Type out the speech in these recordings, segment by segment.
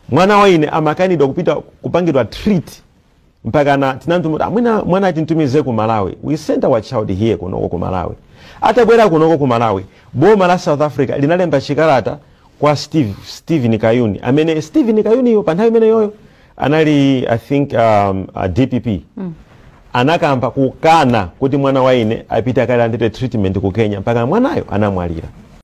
mwana wa ine amakanidwa kupita kupangidwa treat mpaka na tinamtumiza mwina mwana atintumize ku malawi we sent our child here kunoko ku malawi atabwera kunoko ku malawi boma la south africa linalemba chikalata kwa steve stephen kayuni amene stephen kayuniyo pa nthawi imeneyoyo anali i think um, a dpp mm. anakamba kukana kuti mwana wa ine apite akalandire treatment ku kenya mpaka mwanayo anamwalira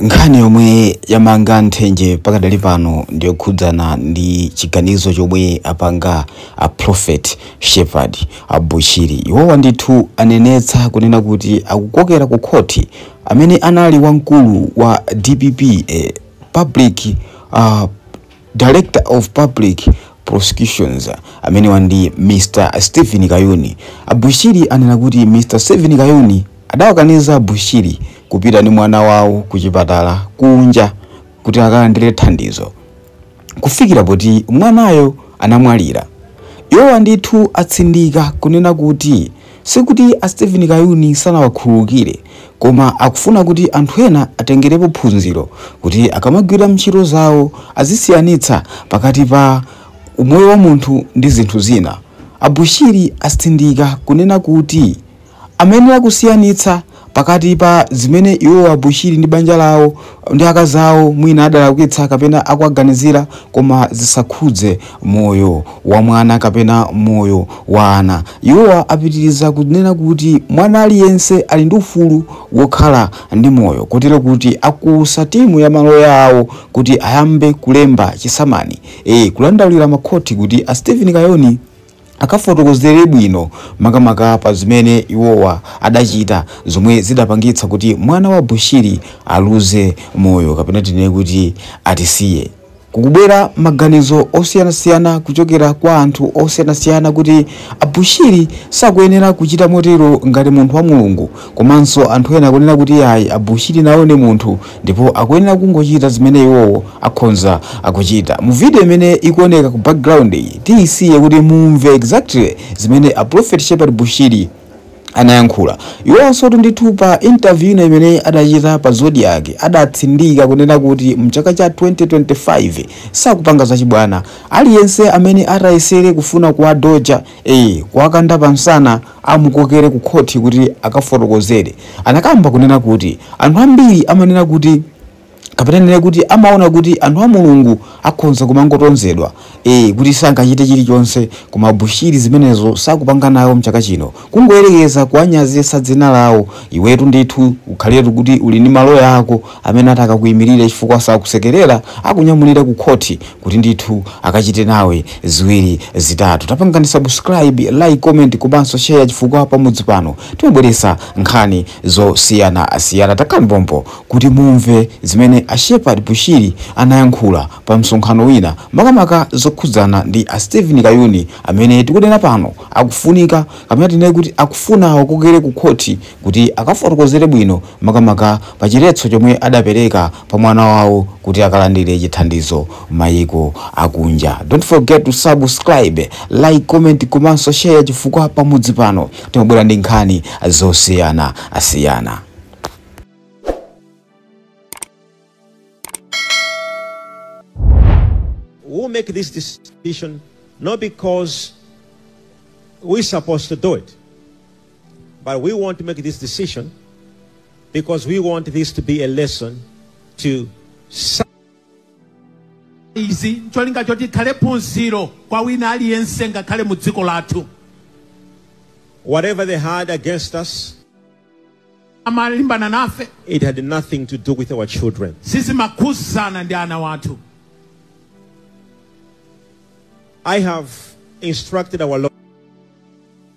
nkhani yomwe yamanga nthenje pakadali pano ndiyokhudzana ndi chiganizo chomwe apanga a prophet shepherd bushiri iwowa ndithu anenetsa kunena kuti akukokera ku khoti amene anali wamkulu wa dpp eh, public uh, Director of Public Prosecutions, amenewa ndi Mr Steven Kayuni. A Bushiri anena kuti Mr Steven Kayuni adawakaniza a Bushiri kupita ndi mwana wawo ku chipatala kunja kuti akalandire thandizo kufikira poti mwanayo anamwalira. Iwowa ndithu atsindika kunena kuti Sikuti a Steven Kayuni sanawakhululukire, koma akufuna kuti anthu ena atengerepo phunziro kuti akamagwira ntchito zawo azisiyanitsa pakati pa umoyo wa munthu ndi zinthu zina. A Bushiri atsindika kunena kuti amayenera kusiyanitsa pakati pa zimene iwowo a Bushiri ndi banja lawo ndi akazi awo mwina adalakwitsa kapena akuwaganizira koma zisakhudze moyo wa mwana kapena moyo wa ana. Iwowa apitiriza kunena kuti mwana aliyense ali ndi ufulu wokhala ndi moyo kotero kuti akuuza timu ya maloya awo kuti ayambe kulemba chisamani, ee, kudandaulira makhoti kuti a Steven Kayuni akafotokozere bwino makamaka pa zimene iwowa adachita zomwe zidapangitsa kuti mwana wa Bushiri aluze moyo kapena tinene kuti atisiye. Kukubwera maganizo osiyanasiyana kuchokera kwa anthu osiyanasiyana kuti a Bushiri sakuyenera kuchita motero ngati munthu wa Mulungu komanso anthu ena akunena kuti ayi a Bushiri nawo ndi munthu ndipo akuyenera kungochita zimene iwowo akhonza akuchita mu video imene ikuoneka ku background iyi tiyisiye kuti mumve exactly zimene a prophet shepherd bushiri anayankhula iwonso ndithu pa interview ina imene adachita pa zodiak adatsindika kunena kuti mchaka cha 2025 sakupanga zachibwana aliyense amene atayesere kufuna kuwadoja eh kuwakanda pamsana amukokere ku khoti kuti akafotokozere anakamba kunena kuti anthu ambiri amanena kuti kapena tinene kuti amaona kuti anthu a mulungu akhonza kumangotonzedwa e, kuti sangachite chilichonse koma bushiri zimenezo sakupanga nawo mchaka chino kungoyerekeza kuwanyazitsa dzina lawo iwetu ndithu ukhaletu kuti uli ndi maloya ako amene atakakuyimirira chifukwa sakusekerera akunyamulira ku khoti kuti ndithu akachite nawe ziwiri zitatu. Tapangani subscribe, like, comment komanso share chifukwa pa mudzi pano timabweretsa nkhani zosiyanasiyana. Takhalani pompo kuti mumve zimene a Shepherd Bushiri anayankhula pa msonkhano wina makamaka zokhudzana ndi a Stephen Kayuni amene tikunena pano akufunika kapena tinene kuti akufuna awakokere ku khoti kuti akafotokozere bwino makamaka pa chiletso chomwe adapereka pa mwana wawo kuti akalandire chithandizo mayiko akunja don't forget to subscribe like comment komanso share chifukwa pa mudzi pano timabwera ndi nkhani zosiyanasiyana we make this decision not because we're supposed to do it. But we want to make this decision because we want this to be a lesson to some. izi ncholinga choti ikhale phunziro kwa wina aliyense ngakhale mu dziko lathu Whatever they had against us, amalimbana nafe it had nothing to do with our children. sizimakhudzana ndi ana wathu I have instructed our lawyers.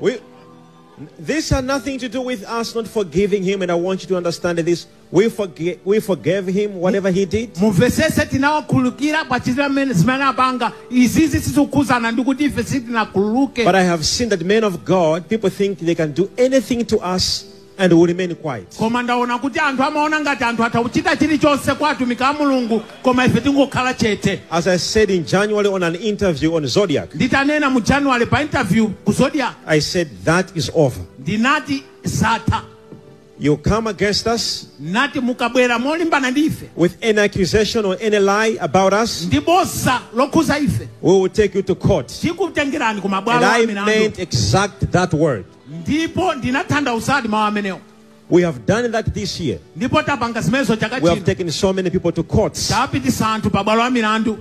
We, this had nothing to do with us not forgiving him, and I want you to understand this. We, forgi- we forgave him whatever he did. mumvesese tinawakhululukira pa chitira mmene zimene apanga izizi sizikukhuzana ndi kuti ife sitinakhululuke But I have seen that men of God, people think they can do anything to us and will remain quiet. ndaona kuti anthu amaona ngati anthu atha kuchita chilichonse kwa atumiki a mulungu koma ife tingokhala chete As I said in January on an interview on Zodiak, nditanena mu january pa interview ku zodiak I said that is over. ndinati zatha You come against us ngati mukabwera molimbana ndi ife with any accusation or any lie about us, ndi bodza lokhudza ife we will take you to court. tikutengerani ku mabwalo a milandu And I meant exact that word. ndipo ndinatanthauzadi mawu amenewo We have done that this year. ndipo tapanga zimenezo chaka chino We have taken so many people to courts. tapititsa anthu pa bwalo la milandu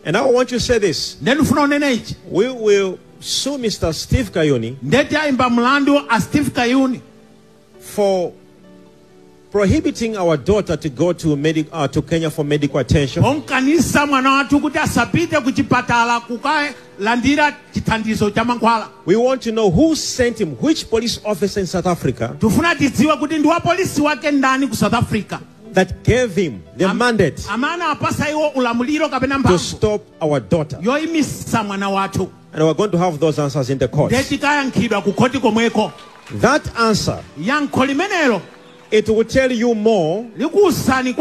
And I want you to say this. nde ndifuna unene ichi We will sue Mr. Steve Kayuni ndiye tiwayimba mlandu a steve kayuni for prohibiting our daughter to go to, medic, uh, to Kenya for medical attention. pokaniza mwana wathu kuti asapite ku chipatala kukalandira chithandizo cha mankhwala We want to know who sent him, which police officer in South Africa tifuna tidziwe kuti ndi wapolisi wake ndani ku south africa that gave him the mandate amene anawapatsa iwo ulamuliro kapena mphamvu to stop our daughter. yoyimitsa mwana wathu And we're going to have those answers in the court. nde tikayankhidwa ku khoti komweko That answer, yankho limenelo it will tell you more. likuwuzani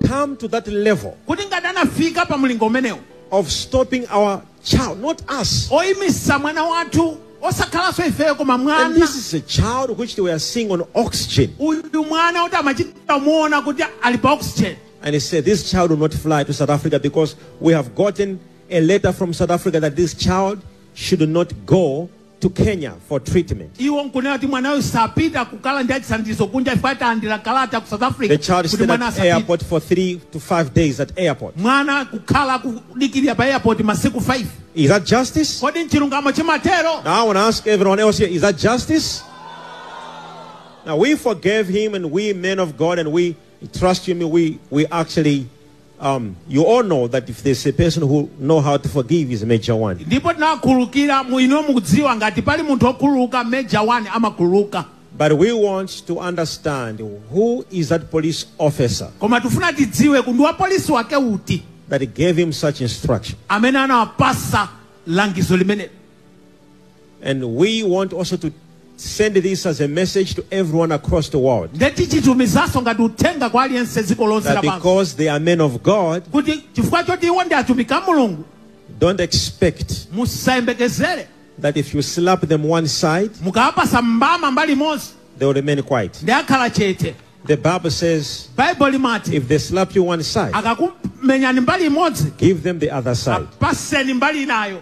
Come to that level kuti ngati anafika pa mlingo umenewu of stopping our child, not us. oyimitsa mwana wathu osakhalanso ifeyo koma And mwana this is a child which they were seeing on oxygen. uyu mwana woti amachita kumuona kuti ali pa oxygen And he said, This child will not fly to South Africa because we have gotten a letter from South Africa that this child should not go to Kenya for treatment. iwo nkunena kuti mwanayo sapita kukalandira chithandizo kunja chifukwa talandira kalata ku south africa The child kuti stayed mwana at asapite airport for three to five days at airport. mwana anakhala akudikirira pa airport masiku 5 Is that justice? kodi mchilungamo chimatero Now I want to ask everyone else here, is that justice? Now we forgave him and we men of God, and we Trust you me, we, we actually, um, you all know that if there's a person who know how to forgive is Major One. ndipo tinawakhululukira inuyo mukudziwa ngati pali munthu okhululuka major 1 amakhululuka But we want to understand who is that police officer koma tifuna tidziwe kuti wapolisi wake uti that gave him such instruction. amene anawapatsa langizo limenelo And we want also to send this as a message to everyone across the world nde tikutumizanso ngati uthenga kwa aliyense dziko lonse that lapansi because they are men of God, kuti chifukwa choti iwo ndi atumiki a mulungu don't expect musayembekezere that if you slap them one side, mukawapatsa mbama mbali imodzi they will remain quiet. nde akhala chete The Bible says baibulo limati if they slap you one side, akakumenyani mbali imodzi give them the other side. apatseni mbali inayo